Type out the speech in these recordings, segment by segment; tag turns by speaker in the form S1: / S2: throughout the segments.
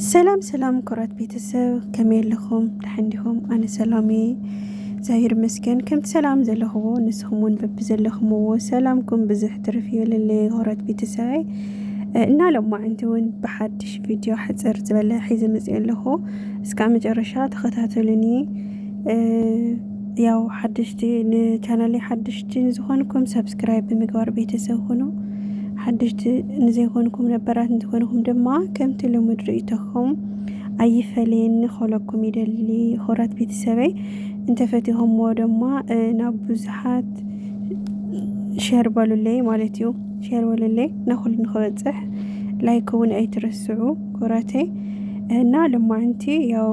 S1: ሰላም ሰላም ኩራት ቤተሰብ ከመይ ኣለኹም ደሓን ዲኹም ኣነ ሰላም እየ እግዚኣብሔር ይመስገን ከምቲ ሰላም ዘለኹዎ ንስኹም እውን በብዘለኹምዎ ሰላምኩም ብዝሕ ትርፍ ይበለለይ ኩራት ቤተሰበይ እና ሎማዕንቲ እውን ብሓድሽ ቪድዮ ሓፅር ዝበለ ሒዘ መፅእ ኣለኹ እስካብ መጨረሻ ተኸታተሉኒ ያው ሓድሽቲ ንቻናለይ ሓድሽቲ ንዝኾንኩም ሰብስክራይብ ብምግባር ቤተሰብ ኹኑ። ሓድሽቲ ንዘይኮንኩም ነበራት እንትኾንኩም ድማ ከምቲ ልሙድ ርእይቶኹም ኣይፈለየኒ ከለኩም ይደሊ ኹራት ቤተሰበይ እንተፈቲኹምዎ ድማ ናብ ብዙሓት ሸር በሉለይ ማለት እዩ ሸር በሉለይ ንኹሉ ንክበፅሕ ላይክ እውን ኣይትረስዑ ኩራተይ እና ልማዕንቲ ያው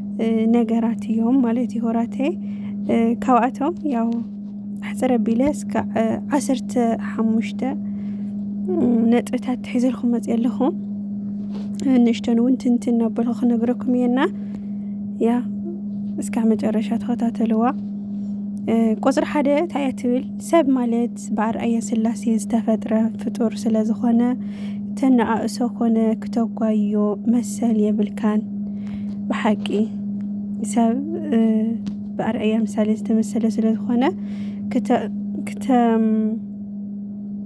S1: ነገራት እዮም ማለት እዩ ሆራተይ ካብኣቶም ያው ኣሕፅር ኣቢለ እስካዕ ዓሰርተ ሓሙሽተ ነጥብታት ትሒዘልኩም መፅ ኣለኹ ንእሽተን እውን ትንትን ኣበልኩ ክነግረኩም እየና ያ እስካዕ መጨረሻ ተኸታተልዋ ቁፅሪ ሓደ እንታይ እያ ትብል ሰብ ማለት ብኣርኣያ ስላሴ ዝተፈጥረ ፍጡር ስለ ዝኾነ ተነኣእሶ ኮነ ክተጓዮ መሰል የብልካን ብሓቂ ሰብ ብኣርኣያ ምሳሌ ዝተመሰለ ስለ ዝኾነ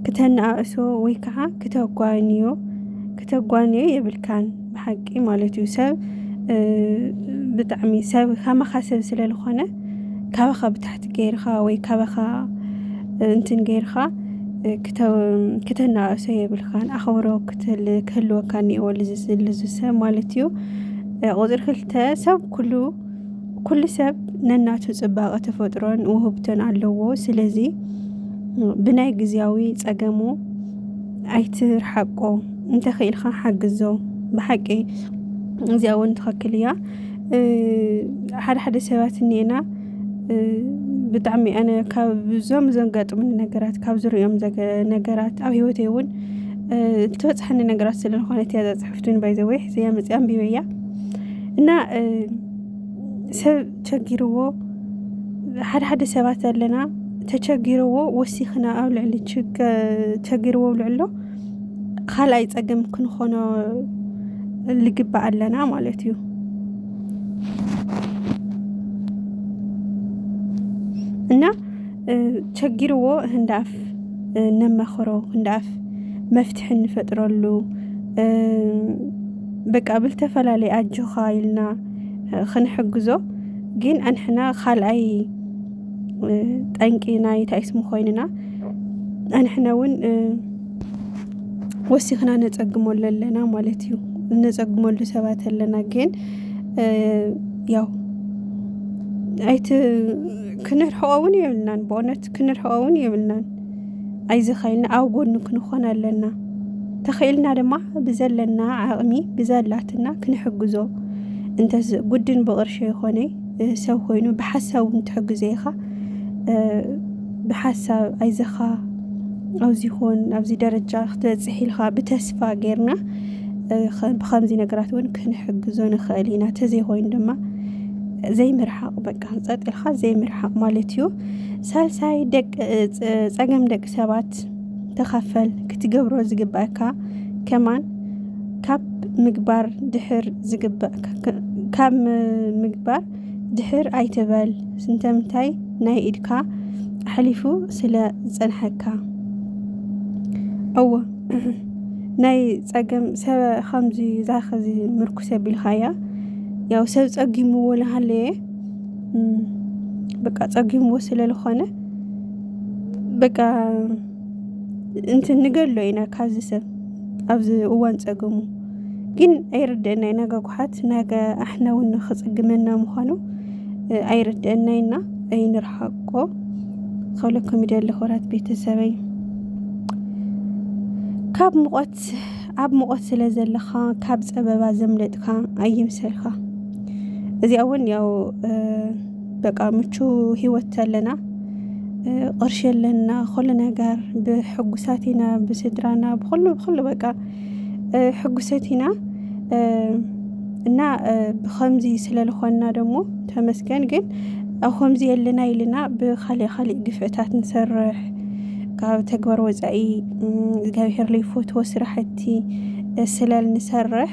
S1: ክተነኣእሶ ወይ ከዓ ክተጓንዮ ክተጓንዮ የብልካን ብሓቂ ማለት እዩ ሰብ ብጣዕሚ ሰብ ከማኻ ሰብ ስለ ዝኾነ ካባኻ ብታሕቲ ገይርኻ ወይ ካባኻ እንትን ገይርኻ ክተናእሶ የብልካን ኣኸብሮ ክህልወካ እኒአዎ ልዝስልዝ ሰብ ማለት እዩ። ቁፅሪ ክልተ ሰብ ኩሉ ኩሉ ሰብ ነናቱ ፅባቐ ተፈጥሮን ውህብቶን ኣለዎ። ስለዚ ብናይ ጊዜያዊ ፀገሙ ኣይትርሓቆ። እንተኺኢልካ ሓግዞ ብሓቂ እዚኣ እውን ትኸክል እያ ሓደ ሓደ ሰባት እኒኤና ብጣዕሚ ኣነ ካብ ብዞም ዘንጋጥሙኒ ነገራት ካብ ዝሪኦም ነገራት ኣብ ሂወተይ እውን እትበፅሐኒ ነገራት ስለዝኾነት እያ ዘፅሕፍቱን ባይዘወይ ሕዘያ መፅኣ ኣንቢበያ እና ሰብ ቸጊርዎ ሓደ ሓደ ሰባት ኣለና ተቸጊርዎ ወሲኽና ኣብ ልዕሊ ቸጊርዎ ልዕሎ ካልኣይ ፀገም ክንኾኖ ልግባእ ኣለና ማለት እዩ እና ቸጊርዎ ህንዳፍ ነመኽሮ ህንዳፍ መፍትሒ እንፈጥረሉ በቃ ብልተፈላለየ ኣጆኻ ኢልና ክንሕግዞ ግን ኣንሕና ካልኣይ ጠንቂ ናይ ታይስሙ ኮይንና ኣንሕነ እውን ወሲኽና ነጸግመሉ ኣለና ማለት እዩ እነጸግመሉ ሰባት ኣለና ግን ያው ኣይቲ ክንርሕቆ እውን የብልናን ብእውነት ክንርሕቆ እውን የብልናን ኣይዘኻይልና ኣብ ጎኑ ክንኾን ኣለና ተኽኢልና ድማ ብዘለና ዓቕሚ ብዘላትና ክንሕግዞ እንተ ጉድን ብቕርሸ ይኾነይ ሰብ ኮይኑ ብሓሳብ እውን ትሕግዞ ኢኻ ብሓሳብ ኣይዘኻ ኣብዚ ኹን ኣብዚ ደረጃ ክትበፅሕ ኢልካ ብተስፋ ጌርና ብከምዚ ነገራት እውን ክንሕግዞ ንኽእል ኢና ተዘይኮይኑ ድማ ዘይምርሓቕ በቃ ፀጥ ኢልካ ዘይምርሓቕ ማለት እዩ ሳልሳይ ፀገም ደቂ ሰባት ተኻፈል ክትገብሮ ዝግበኣካ ከማን ካብ ምግባር ድሕር ዝግባእ ካብ ምግባር ድሕር ኣይትበል ስንተምታይ ናይ ኢድካ ኣሕሊፉ ስለ ዝጸንሐካ እወ ናይ ጸገም ሰበ ኸምዚ ዛኸዚ ምርኩስ ኣቢልኻያ ያው ሰብ ጸጊምዎ ልሃለየ በቃ ጸጊምዎ ስለ ልኾነ በቃ እንትን ንገሎ ኢና ካብዚ ሰብ ኣብዚ እዋን ፀገሙ ግን ኣይርድአና ኢና ገጉሓት ነገ ኣሕና እውን ንክፅግመና ምዃኑ ኣይርድአና ኢና ኣይንርሓቆ ከብለኩም ይደሊ ክብራት ቤተሰበይ ካብ ሙቐት ኣብ ሙቐት ስለ ዘለኻ ካብ ፀበባ ዘምለጥካ ኣይምሰልካ እዚኣ እውን ያው በቃ ምቹ ሂወት ኣለና ቅርሺ ኣለና ኩሉ ነገር ብሕጉሳት ኢና ብስድራና ብኩሉ ብኩሉ በቃ ሕጉሰት ኢና እና ብከምዚ ስለ ልኮና ደሞ ተመስገን ግን ኣብ ከምዚ የለና ኢልና ብካሊእ ካሊእ ግፍዕታት ንሰርሕ ካብ ተግባር ወፃኢ እግዚኣብሄር ለይፈትዎ ስራሕቲ ስለ ንሰርሕ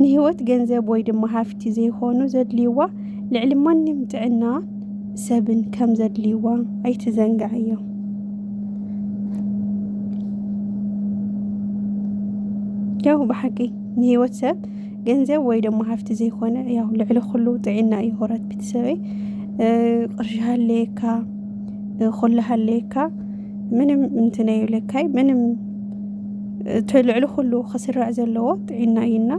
S1: ንህይወት ገንዘብ ወይ ድማ ሃፍቲ ዘይኮኑ ዘድልይዋ ልዕሊ ማንም ጥዕና ሰብን ከም ዘድልይዋ ኣይትዘንጋዕዮ። ያው ብሓቂ ንህይወት ሰብ ገንዘብ ወይ ድማ ሃፍቲ ዘይኮነ ያው ልዕሊ ኩሉ ጥዕና እዩ። ሆራት ቤተሰበይ ቅርሺ ሃለየካ ኩሉ ሃለየካ ምንም እንትን ኣይብለካይ ምንም እቲ ልዕሊ ኩሉ ክስራዕ ዘለዎ ጥዒና እዩና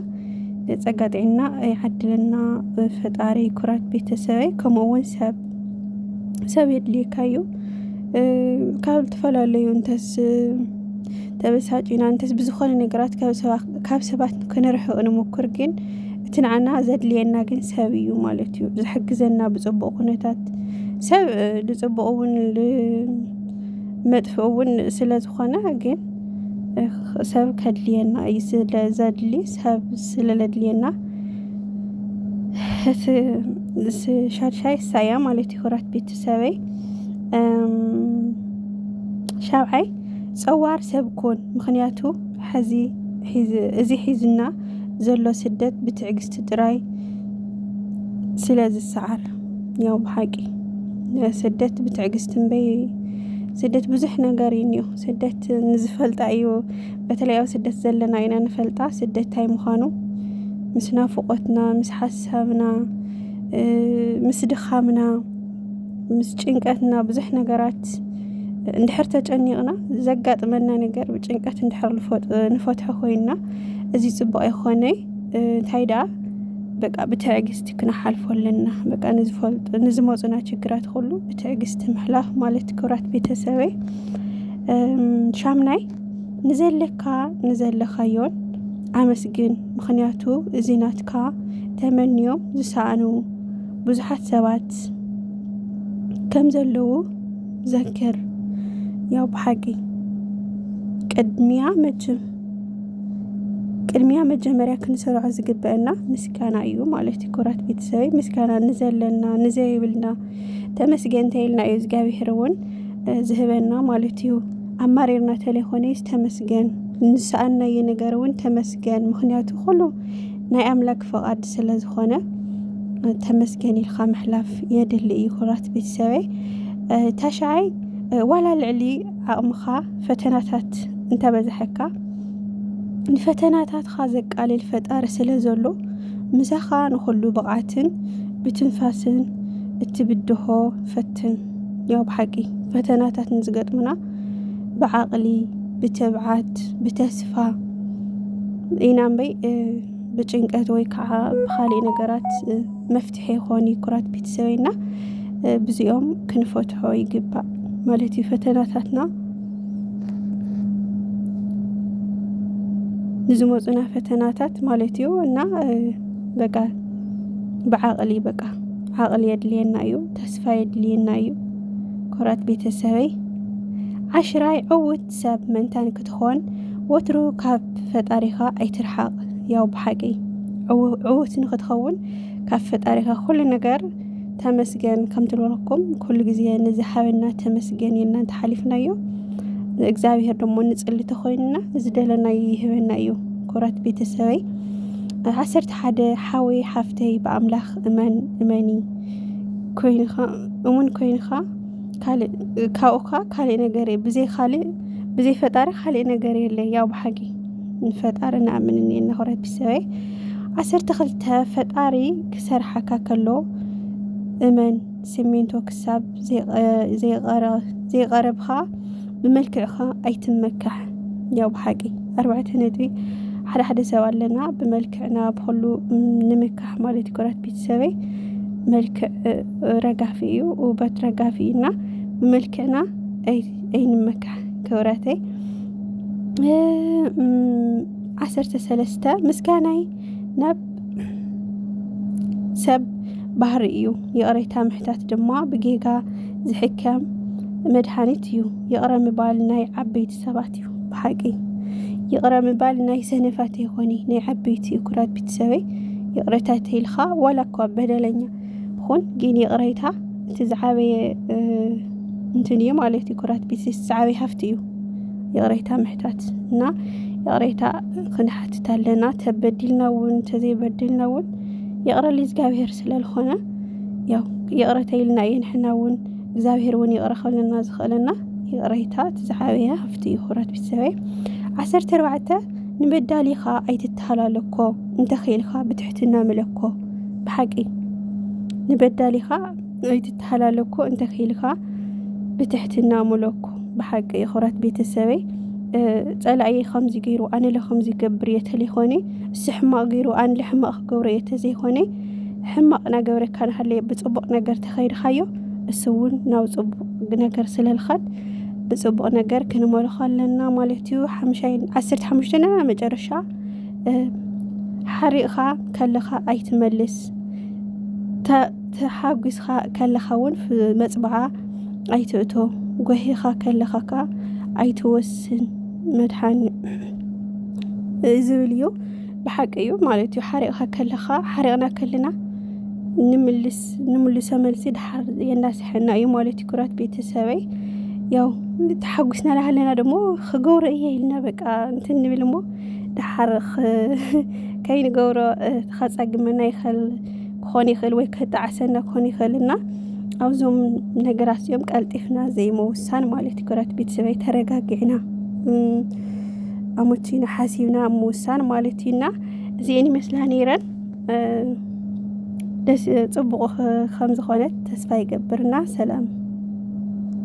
S1: ጸጋ ጥዒና ይዓድለና ፈጣሪ ኩራት ቤተሰበይ ከምኡ እውን ሰብ ሰብ የድልየካ እዩ ካብ ዝተፈላለዩ እንተስ ተበሳጪና እንተስ ብዝኾነ ነገራት ካብ ሰባት ክንርሕቕ ንሙኩር ግን እቲ ንዓና ዘድልየና ግን ሰብ እዩ ማለት እዩ ዝሕግዘና ብፅቡቅ ኩነታት ሰብ ንፅቡቅ እውን መጥፍ እውን ስለ ዝኾነ ግን ሰብ ከድልየና እዩ ስለ ዘድሊ ሰብ ስለ ለድልየና ሻድሻይ ሳያ ማለት እዩ ክብራት ቤተሰበይ ሻብዓይ ፀዋር ሰብ ኩን ምክንያቱ ሕዚ እዚ ሒዝና ዘሎ ስደት ብትዕግስቲ ጥራይ ስለ ዝሰዓር ያው ብሓቂ ስደት ብትዕግስቲ እምበይ ስደት ብዙሕ ነገር እዩ እኒኦ ስደት ንዝፈልጣ እዩ በተለይ ኣብ ስደት ዘለና ኢና ንፈልጣ ስደት ታይ ምዃኑ ምስ ናፍቖትና ምስ ሓሳብና ምስ ድኻምና ምስ ጭንቀትና ብዙሕ ነገራት እንድሕር ተጨኒቕና ዘጋጥመና ነገር ብጭንቀት እንድሕር ንፈትሖ ኮይንና እዚ ፅቡቅ ይኾነ እንታይ ደኣ በቃ ብትዕግስቲ ክንሓልፎ ኣለና በቃ ንዝፈልጡ ንዝመፁና ችግራት ኩሉ ብትዕግስቲ ምሕላፍ ማለት ክብራት ቤተሰበይ ሻምናይ ንዘለካ ንዘለኻዮን ኣመስግን ምኽንያቱ እዚ ናትካ ተመንዮም ዝሰኣኑ ብዙሓት ሰባት ከም ዘለዉ ዘክር ያው ብሓቂ ቅድሚያ መችም ቅድሚያ መጀመርያ ክንሰርዖ ዝግበአና ምስጋና እዩ ማለት እዩ ኩራት ቤተሰበይ ምስጋና ንዘለና ንዘይብልና ተመስገን ተይልና እዩ እግዚኣብሄር እውን ዝህበና ማለት እዩ ኣማሪርና ተለይኮነስ ተመስገን ንሰኣናየ ነገር እውን ተመስገን ምክንያቱ ኩሉ ናይ ኣምላክ ፍቓድ ስለ ዝኾነ ተመስገን ኢልካ ምሕላፍ የድሊ እዩ ኩራት ቤተሰበይ ታሽዓይ ዋላ ልዕሊ ዓቕምኻ ፈተናታት እንተበዝሐካ ንፈተናታትኻ ዘቃልል ፈጣሪ ስለ ዘሎ ምሳኻ ንኹሉ ብቕዓትን ብትንፋስን እትብድሆ ፈትን ያው ብሓቂ ፈተናታት ንዝገጥሙና ብዓቕሊ ብትብዓት ብተስፋ ኢና እምበይ ብጭንቀት ወይ ከዓ ብካሊእ ነገራት መፍትሒ ይኾን ኩራት ቤተሰበይ እና ብዚኦም ክንፈትሖ ይግባእ ማለት እዩ ፈተናታትና ንዝመፁና ፈተናታት ማለት እዩ እና በቃ ብዓቕሊ በቃ ዓቕሊ የድልየና እዩ፣ ተስፋ የድልየና እዩ። ኮራት ቤተሰበይ ዓሽራይ ዕውት ሰብ መንታን ክትኾን ወትሩ ካብ ፈጣሪኻ ኣይትርሓቕ። ያው ብሓቂ ዕውት ንክትኸውን ካብ ፈጣሪኻ ኩሉ ነገር ተመስገን ከም ትብለኩም ኩሉ ግዜ ንዝሓበና ተመስገን ኢልና እንተሓሊፍናዮ እግዚኣብሄር ደሞ ንፅሊ ተኾይንና ንዝደለናዮ ይህበና እዩ። ኮራት ቤተሰበይ ዓሰርተ ሓደ ሓወይ ሓፍተይ ብኣምላኽ እመን እመኒ ኮይንኻ እሙን ኮይንኻ ካልእ ካብኡኻ ካልእ ነገር እየ ብዘይ ካልእ ብዘይ ፈጣሪ ካልእ ነገር የለ ያው ብሓቂ ንፈጣሪ ንኣምን እኒኤና ሕብረተሰበይ ዓሰርተ ክልተ ፈጣሪ ክሰርሓካ ከሎ እመን ሲሚንቶ ክሳብ ዘይቐረብኻ ብመልክዕኻ ኣይትመካሕ ያው ብሓቂ ኣርባዕተ ነጥቢ ሓደ ሓደ ሰብ ኣለና ብመልክዕና ብኩሉ ንምካሕ ማለት እዩ ኮራት ቤተሰበይ መልክዕ ረጋፊ እዩ ውበት ረጋፊ እዩና ብመልክዕና ኣይንመካሕ ክብረተይ ዓሰርተ ሰለስተ ምስጋናይ ናብ ሰብ ባህሪ እዩ። ይቕሬታ ምሕታት ድማ ብጌጋ ዝሕከም መድሃኒት እዩ። ይቕረ ምባል ናይ ዓበይቲ ሰባት እዩ ብሓቂ ይቕረ ምባል ናይ ሰነፋት ይኾኒ ናይ ዓበይቲ እዩ። ኩራት ቤተሰበይ ይቕሬታ ተይልካ ዋላ እኳ በደለኛ ኹን ግን ይቕሬታ እቲ ዝዓበየ እንትን እዩ ማለት እዩ። ኩራት ቤተሰብ ዝዓበየ ሃፍቲ እዩ። ይቕሬታ ምሕታት እና ይቕሬታ ክንሓትት ኣለና ተበዲልና እውን ተዘይበዲልና እውን ይቕረሊ እግዚኣብሄር ስለዝኾነ ያው ይቕረተ ኢልና እዩ ንሕና እውን እግዚኣብሄር እውን ይቕረ ከለና ዝኽእለና ይቕሬታ እቲ ዝዓበየ ሃፍቲ እዩ ክብራት ቤተሰበይ ዓሰርተ ኣርባዕተ ንበዳሊኻ ኣይትተሃላለኮ እንተኽኢልካ ብትሕትና ምለኮ ብሓቂ ንበዳሊኻ ኣይትተሃላለኮ እንተክኢልካ ብትሕትና ሙለኮ ብሓቂ ይኹራት ቤተሰበይ ጸላእየ ከምዚ ገይሩ ኣነለ ከምዚ ገብር እየ ተለይኮነ እስ ሕማቕ ገይሩ ኣንለ ሕማቕ ክገብሮ እየ ተዘይኮነ ሕማቕ ናገብረካ ንሃለየ ብፅቡቕ ነገር ተኸይድካዮ እስ እውን ናብ ፅቡቕ ነገር ስለልኻድ ብፅቡቕ ነገር ክንመልኾ ኣለና ማለት እዩ ሓምሻይ ዓሰርተ ሓሙሽተ ና መጨረሻ ሓሪቕኻ ከለኻ ኣይትመልስ ተሓጒስኻ ከለኻ እውን መጽብዓ ኣይትእቶ፣ ጓሂኻ ከለኻ ከኣ ኣይትወስን መድሓኒ ዝብል እዩ። ብሓቂ እዩ ማለት እዩ። ሓሪቕኻ ከለኻ ሓሪቕና ከለና ንምልስ ንምልሶ መልሲ ድሓር የናስሐና እዩ ማለት እዩ። ኩራት ቤተሰበይ ያው ተሓጒስና ላሃለና ደሞ ክገብሮ እየ ኢልና በቃ እንትን ንብል እሞ ድሓር ከይንገብሮ ተኸጻግመና ይኸል ክኾን ይኽእል ወይ ከጣዕሰና ክኾን ይኽእል እና ኣብዞም ነገራት እዚኦም ቀልጢፍና ዘይመውሳን ማለት እዩ ክረት ቤተሰበይ ተረጋጊዕና ኣመቺና ሓሲብና ምውሳን ማለት እዩ እና እዚአን ይመስላ ነይረን ደስ ፅቡቕ ከም ዝኾነት ተስፋ ይገብርና ሰላም